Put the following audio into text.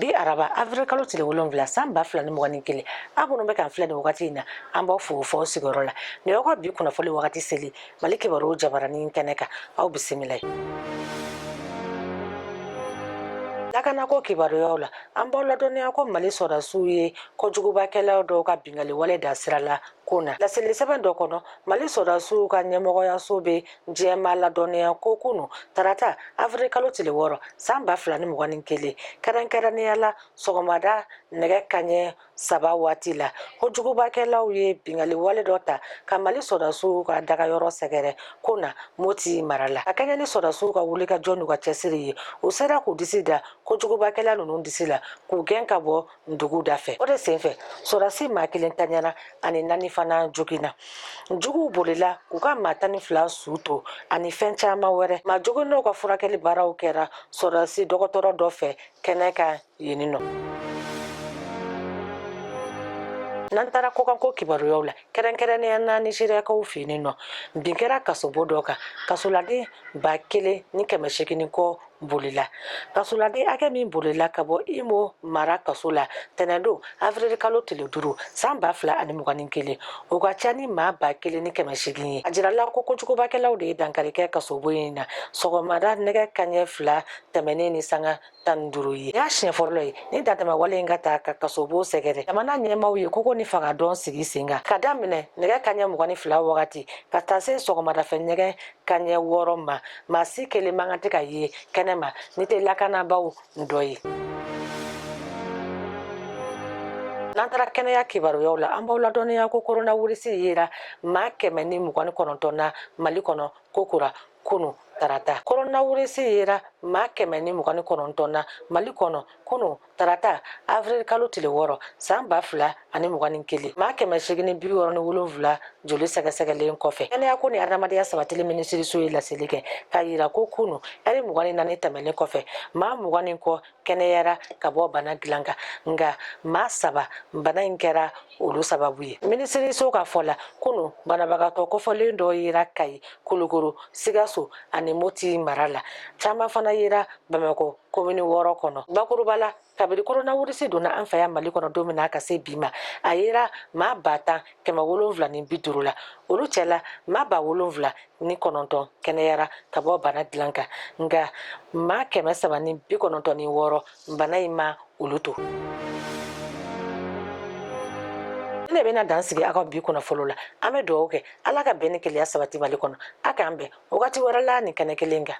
bi araba avril kalo tile wolonfila san ba fila ni mugan ni kelen aw minnu bɛ k'an filɛ nin wagati in na an b'aw fo f'aw sigiyɔrɔ la nin y'aw ka bi kunnafoli wagati selen mali kibaruw jabaranin kɛnɛ kan aw bisimilayi lakanako kibaruyaw la an b'aw ladɔnniya ko mali sɔrɔdasiw ye kojugubakɛlaw dɔw ka bingali wale da sira la kona laseli sɛbɛn dɔ kɔnɔ mali sɔrɔdasiw ka ɲɛmɔgɔyaso bɛ jama ladɔnniya ko kunu tarata afiri kalo tile wɔɔrɔ san ba fila ni mugan ni kelen kɛrɛnkɛrɛnnenya la sɔgɔmada nɛgɛ kaɲɛ saba waati la kojugubakɛlaw ye bingali wale dɔ ta ka mali sɔrɔdasiw ka dagayɔrɔ sɛgɛrɛ kona moti mara la ka kɛɲɛ ni sɔrɔdasiw ka wuli ka jɔ n'u ka cɛsiri ye u sera k'u disi da kojugubakɛla ninnu disi la k'u gɛn ka bɔ dugu da fɛ o de senfɛ sɔrɔdasi maa kelen ntanyana ani naani fana joginna juguw bolila k'u ka maa tan ni fila su to ani fɛn caman wɛrɛ maa joginnenw ka furakɛli baaraw kɛra sɔrɔdasi dɔgɔtɔrɔ dɔ fɛ kɛnɛ kan yeni nɔ n'an taara kɔkanko kibaruyaw la kɛrɛnkɛrɛnnenya na nizeriyakaw fɛ yen nɔ bin kɛra kasobo dɔ kan kasoladen ba kelen ni kɛmɛ seegin ni kɔ bolila kasoladen hakɛ min bolila ka bɔ imo mara kaso la tɛnɛndon afirili kalo tile duuru san ba fila ani mugan ni kelen o ka ca ni maa ba kelen ni kɛmɛ seegin ye a jirala ko kojugubakɛlaw de ye dankari kɛ kasobo in na sɔgɔmada nɛgɛ kaɲɛ fila tɛmɛnen ni sanga tan ni duuru ye y'a siɲɛ fɔlɔ ye ni dantɛmɛwale in ka taa ka kasobo sɛgɛrɛ jamana ɲɛmaaw ye koko ni fangadɔn sigi sen kan ka daminɛ nɛgɛ kaɲɛ mugan ni fila wagati ka taa se sɔgɔmadafɛ nɛgɛ kaɲɛ wɔɔrɔ ma maa si kelen man kan tɛ ka ye kɛnɛ ma n'i tɛ lakanabaaw dɔ ye n'an taara kɛnɛya kibaruyaw la an b'aw ladɔnniya ko koronawirisi yera maa kɛmɛ ni mugan ni kɔnɔntɔn na mali kɔnɔ kokura kunu tarata koronawirisi yera maa kɛmɛ ni mugan ni kɔnɔntɔn na mali kɔnɔ kunu tarata avril kalo tile wɔɔrɔ san ba fila ani mugan ni kelen maa kɛmɛ seegin ni bi wɔɔrɔ ni wolonfila joli sɛgɛsɛgɛlen kɔfɛ kɛnɛya ko ni adamadenya sabatili minisiriso ye laseli kɛ k'a yira ko kunu ɛri mugan ni naani tɛmɛlen kɔfɛ maa mugan ni kɔ kɛnɛyara ka bɔ bana dilan kan nka maa saba bana in kɛra olu sababu ye minisiriso ka fɔ la kunu banabagatɔ kofɔlen dɔ yera kayi kulukoro sigaso ani moti mara la caman fana yera bamakɔ komini wɔɔrɔ kɔnɔ bakuruba la kabiri koronawirisi donna an fɛ yan mali kɔnɔ don min na ka se bi ma a yera maa ba tan kɛmɛ wolonfila ni bi duuru la olu cɛla maa ba wolonfila ni kɔnɔntɔn kɛnɛyara ka bɔ bana dilan kan nka maa kɛmɛ saba ni bi kɔnɔntɔn ni wɔɔrɔ bana in ma olu to ne bɛna dan sigi aw ka bi kunnafoli la an bɛ dugawu kɛ ala ka bɛn ni kelenya sabati mali kɔnɔ a k'an bɛn wagati wɛrɛ la nin kɛnɛ kelen kan